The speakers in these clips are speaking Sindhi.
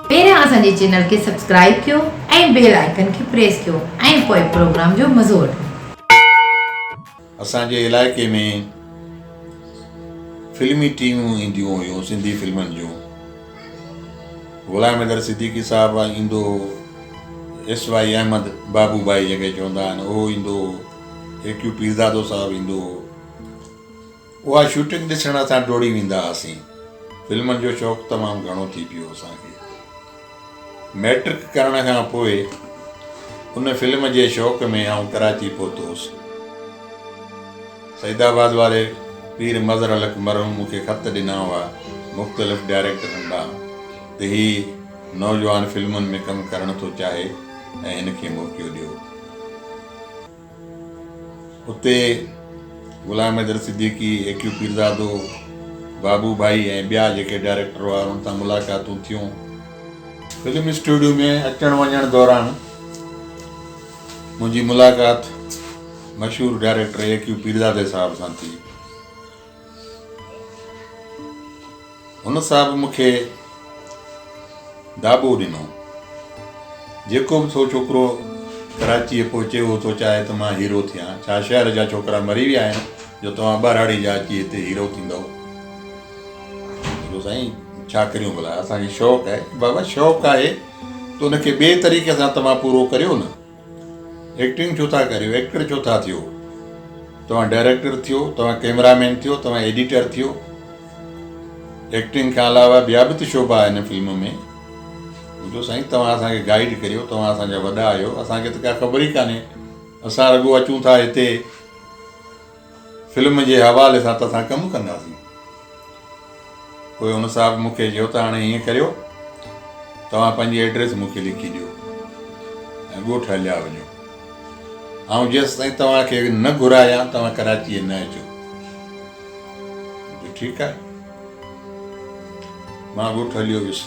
پهريان اسان جي چينل کي سبسڪرائيب ڪيو ۽ بيل آئيڪن کي پريس ڪيو ۽ پوء پروگرام جو مزو وٺو. اسان جي علائقي ۾ فلمي ٽيمون اينديون هيون سنڌي فلمن جون غلام حيدر صديقي صاحب ايندو هو ايس واء احمد بابو ڀائي جنهن کي چوندا آهن اهو ايندو هو اي ڪيو پيرزادو صاحب ايندو هو اها شوٽنگ ڏسڻ اسان ڊوڙي ويندا هئاسين فلمن جو شوق تمام گهڻو ٿي پيو اسان کي مئٽرڪ ڪرڻ کان پوء ان فلم جي شوق ۾ آئون ڪراچي پهتو هوس. سعيد آباد واري پير مظهر الحق مرحوم مون کي خط ڏنا هئا مختلف ڊائريڪٽرن ڏانهن ته هي نوجوان فلمن ۾ ڪم ڪرڻ ٿو چاهي ۽ هن کي موقعو ڏيو. اتي غلام حيدر صديقي، اي ڪيو پيرزادو، بابو ڀائي ۽ ٻيا جيڪي ڊائريڪٽر هئا انهن سان ملاقاتون ٿيون. فلم اسٽوڊيو ۾ اچڻ وڃڻ دوران منهنجي ملاقات مشهور ڊائريڪٽر اي ڪيو پيرزادي صاحب سان ٿي. هن صاحب مون کي ڊاٻو ڏنو. جيڪو به ٿو ڇوڪرو ڪراچيء پهچي اهو ٿو چاهي ته مان هيرو ٿيان. ڇا شهر جا ڇوڪرا مري ويا آهن جو توهان ٻهراڙي جا اچي هتي هيرو ٿيندؤ؟ ڊاٻو سائين ڇا ڪريون ڀلا اسان کي شوق آهي. بابا شوق آهي ته ان کي ٻئي طريقي سان توهان پورو ڪريو نه. ايڪٽنگ ڇو ٿا ڪريو ايڪٽر ڇو ٿا ٿيو توهان ڊائريڪٽر ٿيو توهان ڪيمرا مين ٿيو توهان ايڊيٽر ٿيو ايڪٽنگ کان علاوه ٻيا به ته شعبا آهن فلم ۾ جو سائين توهان اسان کي گائيڊ ڪريو توهان اسان جا وڏا آهيو اسان کي ته ڪا خبر ئي ڪانهي اسان رڳو اچون ٿا هتي فلم جي حوالي سان توسان ڪم ڪنداسين. پوء هن صاحب مون کي چيو ته هاڻي ائين ڪريو توهان پنهنجي ايڊريس مون کي لکي ڏيو ۽ ڳوٺ هليا وڃو. آئون جيستائين توهان کي نه گهرايان توهان ڪراچيء نه اچو. مون چيو ٺيڪ آهي. مان ڳوٺ هليو ويس.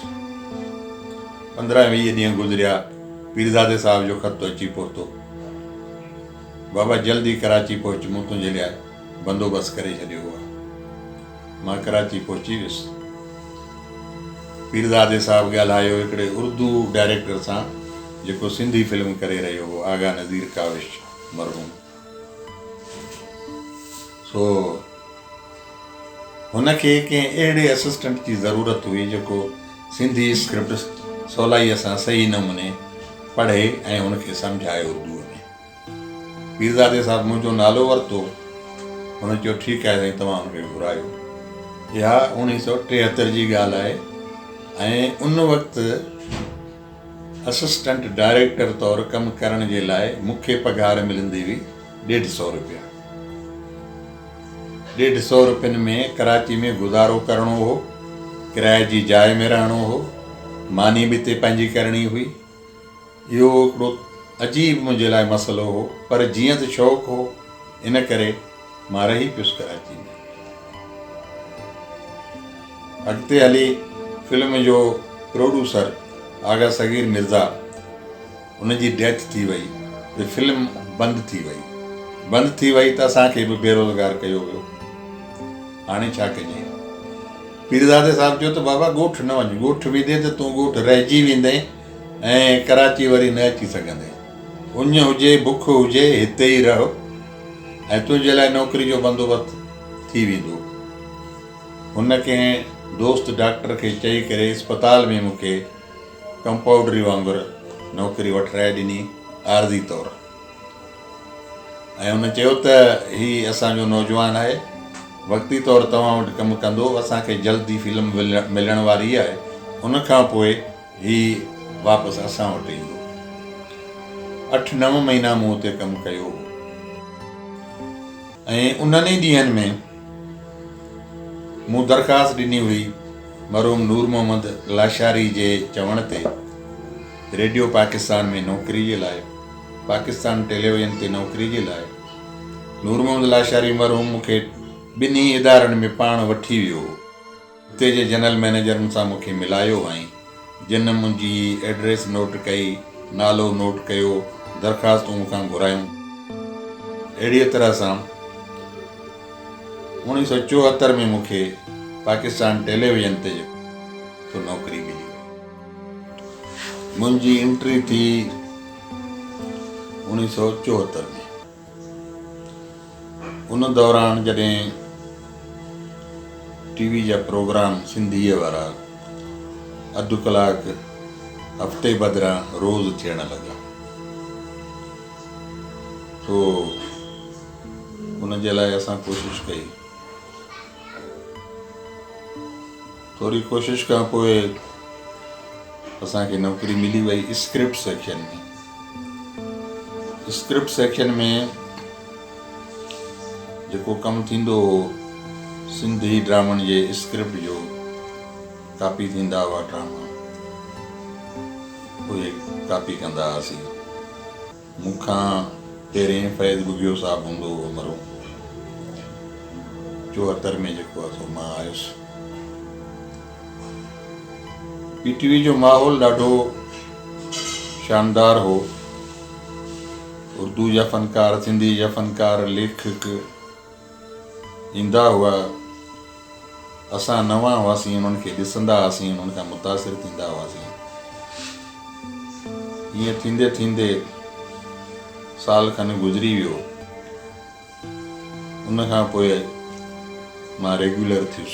پندرهن ويهه ڏينهن گذريا پيرزادي صاحب جو خط اچي پهتو. بابا جلدي ڪراچي پهچ مون تنهنجي لاء بندوبست ڪري ڇڏيو آهي. مان ڪراچي پهچي ويس. پيرزادي صاحب ڳالهايو هڪڙي اردو ڊائريڪٽر سان جيڪو سنڌي فلم ڪري رهيو هو آغا نذير ڪاوش مرحوم سو هن کي ڪنهن اهڙي اسسٽنٽ جي ضرورت هئي جيڪو سنڌي اسڪرپٽ سولائيء سان صحيح نموني پڙهي ۽ هن کي سمجهائي اردوء ۾. پيرزادي صاحب منهنجو نالو ورتو. هن چيو ٺيڪ آهي سائين توهان هن کي گهرايو. اها اوڻيهه سؤ ٽيهتر جي ڳالهه آهي ۽ ان وقت اسسٽنٽ ڊائريڪٽر طور ڪم ڪرڻ جي لاء مون کي پگهار ملندي هئي ڏيڍ سؤ روپيا. ڏيڍ سؤ روپين ۾ ڪراچي ۾ گذارو ڪرڻو هو. ڪرائي جي جاء ۾ رهڻو هو. ماني به اتي پنهنجي ڪرڻي هئي. اهو هڪڙو عجيب منهنجي لاء مسئلو هو پر جيئن ته شوق هو ان ڪري مان رهي پيس ڪراچي ۾. اڳتي هلي فلم جو پروڊيوسر آغا صغير مرزا ان جي ڊيٿ ٿي وئي ته فلم بند ٿي وئي بند ٿي وئي ته اسان کي به بيروزگار ڪيو ويو هاڻي ڇا ڪجي. پيرزادي صاحب چيو ته بابا ڳوٺ نه وڃ، ڳوٺ ويندين ته تون ڳوٺ رهجي ويندين ۽ ڪراچي وري نه اچي سگهندين. اڃ هجي بک هجي هتي ئي رهه ۽ تنهنجي لاء نوڪري جو بندوبست ٿي ويندو. هن ڪنهن دوست ڊاڪٽر کي چئي ڪري اسپتال ۾ مون کي ڪمپائوڊري وانگر نوڪري وٺرائي ڏني عارضي طور. ۽ هن چيو ته هي اسان جو نوجوان آهي وقتي طور توهان وٽ ڪم ڪندو اسان کي جلد ئي فلم ملڻ واري آهي ان کان پوء هي واپس اسان وٽ ايندو اٺ نو مهينا مون اتي ڪم ڪيو هو ۽ انهن ئي ڏينهن ۾ مون درخواست ڏني هئي مرحوم نور محمد لاشاري جي چوڻ تي ريڊيو پاڪستان ۾ نوڪري جي لاء پاڪستان ٽيليويزن تي نوڪري جي لاء نور محمد لاشاري مرحوم مون کي ٻنهي ادارن ۾ پاڻ وٺي ويو هو. اتي جي جنرل مئنيجرن سان مون کي ملايو هئائين، جن منهنجي ايڊريس نوٽ ڪئي، نالو نوٽ ڪيو، درخواستون مون کان گهرايون. اهڙيء طرح سان اوڻويهه سؤ چوهتر ۾ مون کي پاڪستان ٽيليويزن تي جيڪو نوڪري ملي وئي. منهنجي انٽري ٿي اوڻيهه سؤ چوهتر ۾ ان دوران جڏهن ٽي وي جا پروگرام سنڌيء وارا اڌ ڪلاڪ هفتي بدران روز ٿيڻ لڳا سو ان جي لاء اسان ڪوشش ڪئي ٿوري ڪوشش کان پوء اسان کي نوڪري ملي وئي اسڪرپٽ سيڪشن ۾ اسڪرپٽ سيڪشن ۾ جيڪو ڪم ٿيندو هو سنڌي ڊرامن جي اسڪرپٽ جو ڪاپي ٿيندا هئا ڊراما اهي ڪاپي ڪندا هئاسين مون کان پهرين فيض ٻگهيو صاحب هوندو هو مرحوم چوهتر ۾ جيڪو آهي سو مان آيس پي ٽي وي جو ماحول ڏاڍو شاندار هو اردو جا فنڪار سنڌي جا فنڪار ليکڪ ايندا هئا، اسان نوان هئاسين، انهن کي ڏسندا هئاسين، انهن کان متاثر ٿيندا هئاسين. ائين ٿيندي ٿيندي سال کن گذري ويو. ان کان پوء مان ريگيولر ٿيس.